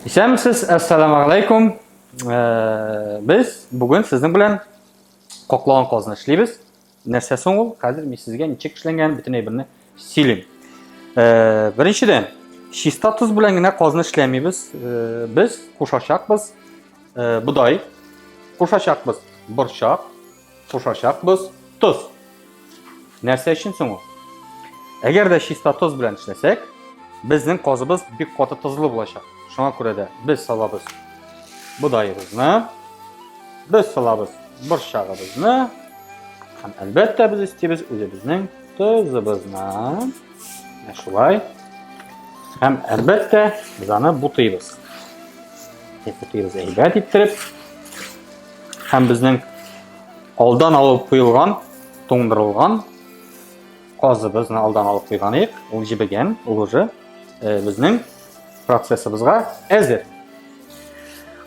Исәнмесез, әссәламу алейкум. Э, без бүген сезнең белән кокланган казны эшлибез. Нәрсә соң ул? Хәзер мин сезгә ничек эшләнгән бөтен әйберне сөйлим. Э, беренчедән, чиста тоз белән генә казны эшләмибез. Э, без кушачакбыз будай, кушачакбыз борчак, кушачакбыз тоз. Нәрсә өчен соң ул? Әгәр дә чиста тоз белән эшләсәк, безнең казыбыз бик каты тозлы булачак. Шуңа күрә дә без салабыз бодаебызны, без салабыз борчагыбызны һәм әлбәттә без истибез үзебезнең тозыбызны. Менә шулай. Һәм әлбәттә без аны бутыйбыз. Бутыйбыз әйбәт иттереп. Һәм безнең алдан алып куелган, туңдырылган казыбызны алдан алып куйган идек. Ул җебегән, ул уже э, безнең процессыбызга әзер.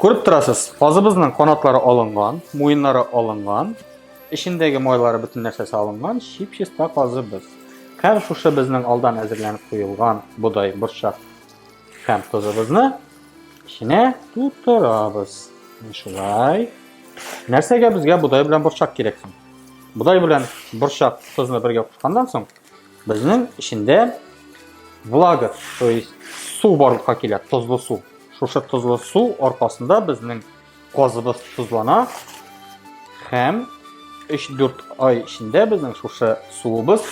Күреп торасыз, казыбызның канатлары алынган, муеннары алынган, эчендәге майлары бөтен нәрсәсе алынган, чип-чиста казыбыз. Һәм шушы безнең алдан әзерләнеп куелган бодай, борчак һәм тозыбызны Эченә тутырабыз. Шулай. Нәрсәгә безгә бодай белән борчак кирәк соң? Бодай белән борчак тозны бергә кушканнан соң, безнең эчендә влага, то есть су барлыкка килә, тозлы су. Шушы тозлы су аркасында безнең Казыбыз тозлана һәм 3-4 ай эчендә безнең шушы суыбыз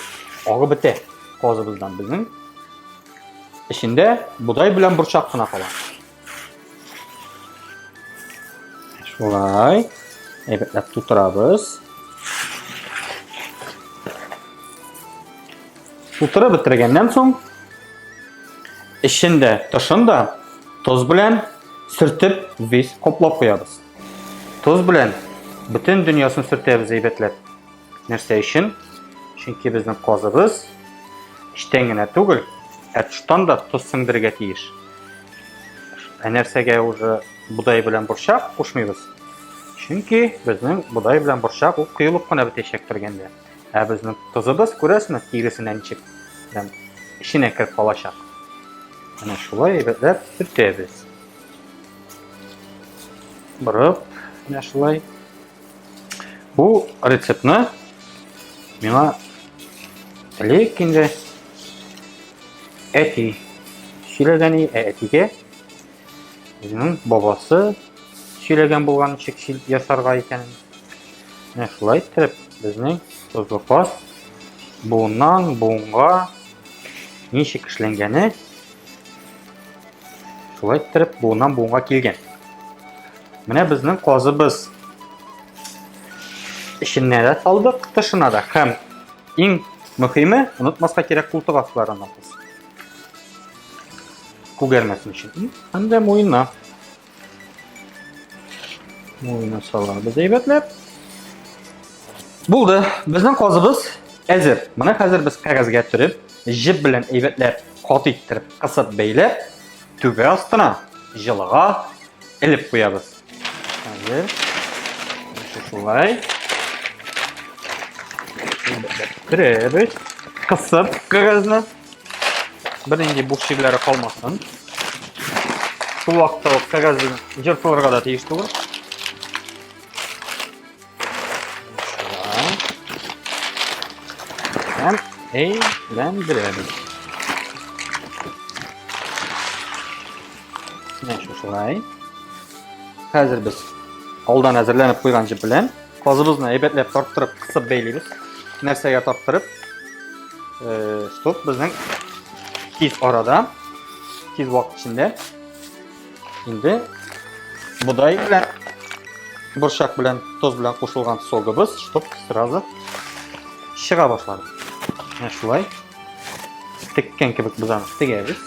агып бетә. Казыбыздан безнең эчендә бодай белән борчак кына кала. Шулай әйбәтләп тутырабыз. Тутырып бетергәннән соң эчен дә, тышын да тоз белән сөртеп без коплап куябыз. Тоз белән бөтен дөньясын сөртәбез әйбәтләп. Нәрсә өчен? Чөнки безнең казыбыз эчтән генә түгел, ә тыштан да тоз сеңдерергә тиеш. Ә нәрсәгә уже бодай белән борчак кушмыйбыз? Чөнки безнең бодай белән борчак ул коелып кына бетәчәк бергәндә. Ә безнең тозыбыз, күрәсме, тиресенә ничек прям эченә кереп калачак. Менә шулай әйбәтләп төртәбез. Борып, менә шулай. Бу рецептны миңа элек инде әти сөйләгән, ә әтигә Үзенең бабасы сөйләгән булган ничек шил ясарга икәнен. Менә шулай иттереп безнең тозлы каз буыннан буынга ничек эшләнгәне шулай иттереп буыннан буынга килгән. Менә безнең казыбыз эченә дә салдык, тышына да һәм иң мөһиме, онытмаска кирәк култык асларына. күгәрмәсен өчен. И һәм дә муенына. Муенына салабыз әйбәтләп. Булды. Безнең казыбыз әзер. Моны хәзер без кәгазьгә төреп, җеп белән әйбәтләп кат иттереп, кысып бәйләп, түбә астына җылыга элеп куябыз. Хәзер шулай. Керәбез. Кысып кәгазьне. Бернинди буш җирләре калмасын. Шул вакытта ук кәгазьне җыртылырга да тиеш түгел. Һәм әйләндерәбез. Менә шулай. Хәзер без алдан әзерләнеп куйган җеп белән казыбызны әйбәтләп тарттырып, кысып бәйлибез. Нәрсәгә тарттырып? Э, стоп безнең тиз арада, тиз вакыт эчендә Инде бодай белән борчак белән тоз белән кушылган согыбыз чтоб сразу чыга башлады. Менә шулай теккән кебек без аны тегәбез.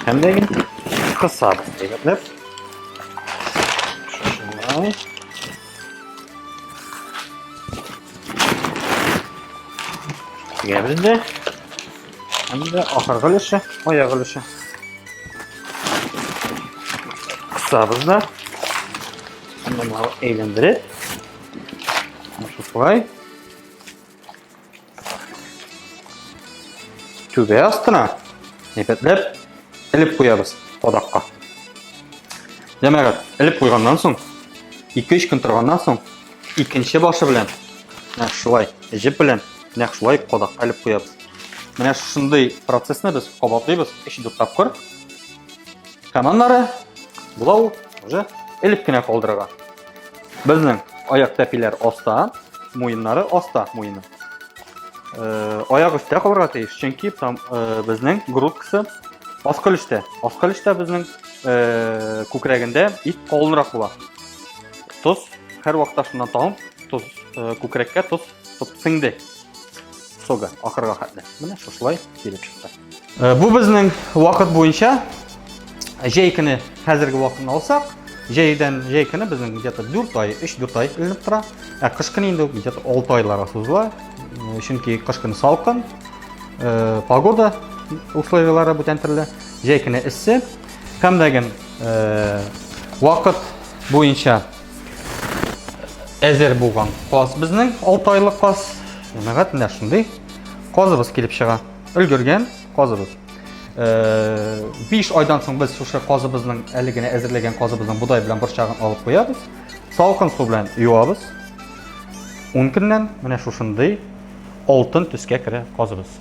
Һәм дә инде кысабыз дигәннәр. Шушыннан тегәбез дә Инде ахыргы өлеше, аяк өлеше. Кысабыз да. Монда әйләндереп. Шулай. Түбә астына әйбәтләп элеп куябыз кадакка. Җәмәгать, элеп куйганнан соң 2-3 көн торганнан соң икенче башы белән шулай җеп белән Нәкъ шулай кадакка элеп куябыз. Менә шушындый процессны без кабатлыйбыз 3-4 тапкыр. Һәм аннары була ул уже элеп кенә калдырырга. Безнең аяк тәпиләр аста, муеннары аста муены. Э, аяк өстә калырга тиеш, чөнки там э, безнең грудкасы аскы өлештә. Аскы өлештә безнең э, күкрәгендә ит калынрак була. Тоз һәр вакытта шуннан табып, тоз күкрәккә тоз Топ сеңде. Сога, ахырга хәтле. Менә шушылай килеп чыкты. Э, бу безнең вакыт буенча җәй көне хәзерге вакытны алсак, җәйдән җәй көне безнең где-то 4 ай, 3-4 ай эленеп тора. Ә кыш көне инде где-то 6 айларга сузыла. Э, чөнки кыш көне салкын, э, погода условияләре бүтән төрле, җәй көне эссе. Һәм дә вакыт буенча әзер булган каз безнең 6 айлык каз нәгать менә шундый казыбыз килеп чыга өлгергән казыбыз 5 э, айдан соң без шушы казыбызның әле генә әзерләгән казыбызның бодай белән борчагын алып куябыз салкын су белән юабыз 10 көннән менә шушындый алтын төскә керә казыбыз